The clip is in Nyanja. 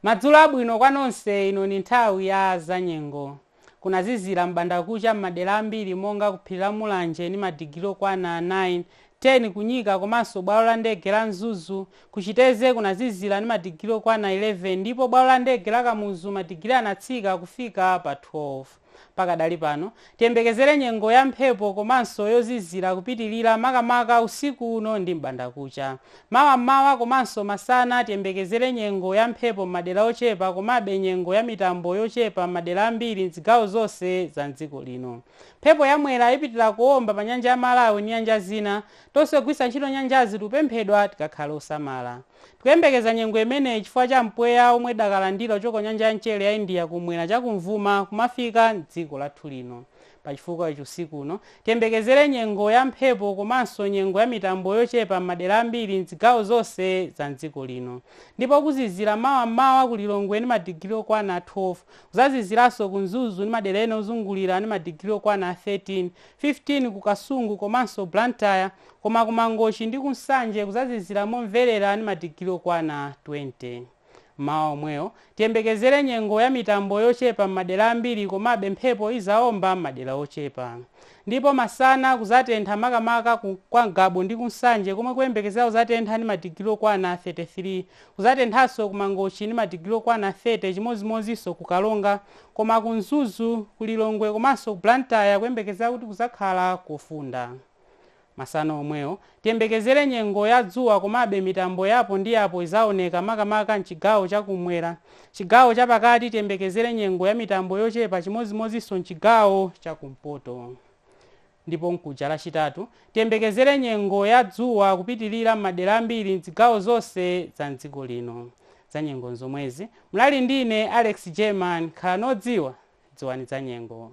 madzulo abwino kwa nonse ino ni nthawi ya zanyengo kunazizira m'bandakucha m'madera ambiri monga ku phiri la mulanje ni madigiri okwana 9 10 kunyika komanso bwalo la ndege la mzuzu kuchiteze kunazizira ni madigiri okwana 11 ndipo bwalo la ndege la kamuzu madigiri anatsika kufika pa 12 Pakadali pano, tiyembekezere nyengo ya mphepo komanso yozizira kupitilira makamaka usiku uno ndi m'bandakucha. Mawa m'mawa komanso masana tiyembekezere nyengo ya mphepo m'madera ochepa komabe nyengo ya mitambo yochepa m'madera ambiri m'zigawo zonse za m'dziko lino. Mphepo ya Mwera ipitira kuomba pa Nyanja ya Malawi ndi nyanja zina. Tonse ogwiritsa ntchito nyanjazi tikupemphedwa tikakhale osamala. Tikuyembekeza nyengo imeneyi chifukwa cha mpweya womwe tidakalandira kuchoka ku nyanja ya mchere ya India kummwera chakumvuma kumafika m'dziko lathu lino. Pachifukwa ichi usiku uno, tiyembekezere nyengo ya mphepo komanso nyengo ya mitambo yochepa m'madera ambiri m'zigawo zonse za m'dziko lino. Ndipo kuzizira mawa m'mawa ku Lilongwe ndi madigiri okwana 12. Kuzaziziranso ku Mzuzu ndi madera ena ozungulira ndi madigiri okwana 13, 15 ku Kasungu komanso Blantyre. Koma ku Mangochi ndi ku Nsanje kuzazizira momverera ndi madigiri okwana 20. Mmawa omwewo, tiyembekezere nyengo ya mitambo yochepa m'madera ambiri komabe mphepo izaomba m'madera ochepa. Ndipo masana kuzatentha makamaka kwa Ngabu ndi ku Nsanje komwe kuyembekezera kuzatentha ndi madigiri okwana 33. Kuzatenthanso ku Mangochi ndi madigiri okwana 30 chimodzimodzinso ku Karonga koma ku Mzuzu, ku Lilongwe komanso ku Blantyre kuyembekezera kuti kuzakhala kofunda. Masana omwewo, tiyembekezere nyengo ya dzuwa komabe mitambo ya apo ndi apo izaoneka makamaka m'chigawo cha kummwera. Chigawo cha pakati tiyembekezere nyengo ya mitambo yochepa chimodzimodzinso m'chigawo cha kumpoto. Ndipo mkuja Lachitatu, tiyembekezere nyengo ya dzuwa kupitirira m'madera ambiri m'zigawo zonse za m'dziko lino. Zanyengo nzomwezi. Munali ndi ine, Alex Jerman. Khalani odziwa. Dziwani zanyengo.